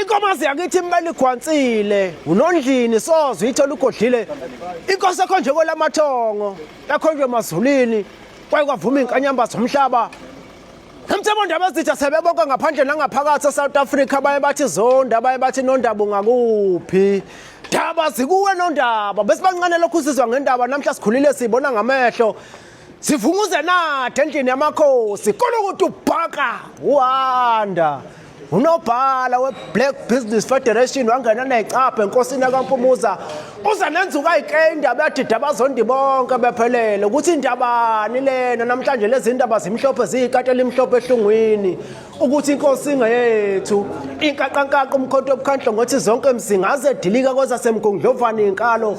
Inkomazi yakithi imele igwansile unondlini soze uyithola ugodlile inkosi ekho nje kwelamathongo yakhonjwe emazulwini kwaye kwavuma inkanyamba zomhlaba Emthembo ndaba ezitha sebebonke ngaphandle nangaphakathi eSouth Africa baye bathi zonda baye bathi nondaba ungakuphi Daba zikuwe nondaba besibancane lokhu sizwa ngendaba namhla sikhulile sibona ngamehlo Sivunguze nade endlini yamakhosi kolokuthi ubhaka uhanda unobhala we-black business federation wangena necapha enkosini yakampumuza uze nenzuka ayike indaba yadida abazondi bonke bephelele ukuthi indabani lena namhlanje lezi ndaba zimhlophe ziyikati elimhlophe ehlungwini ukuthi inkosi ingeyethu inkaqankaqa umkhonto obukhandlo ngothi zonke mzingaze dilika kwezasemgunglovane inkalo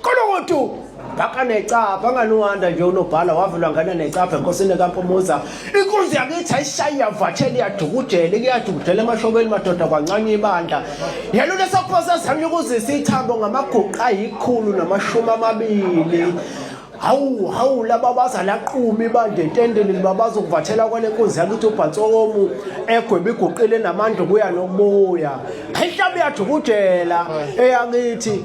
Kolotu bhaka necapha nganohanda nje unobhala wavela ngana necapha enkosini kampumuza inkunzi yakithi ayishayi yavathela iyadukujele kuyadukujela emashobeni madoda kwancane ibandla yena lesophosa zami ukuzisa ithambo ngamaguqa ayikhulu namashumi amabili hawu hawu laba bazalaqumi bandla entendeni libabaza ukuvathela kwale nkunzi yakithi ubhansokomu egweba iguqile namandla ukuya nokubuya inhlabi yadukujela eyakithi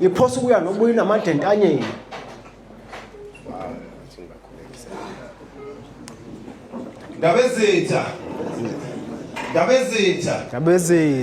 Ngiphosa ukuya noma uyinamandla entanyeni. Ndabezitha. Ndabezitha. Ndabezitha.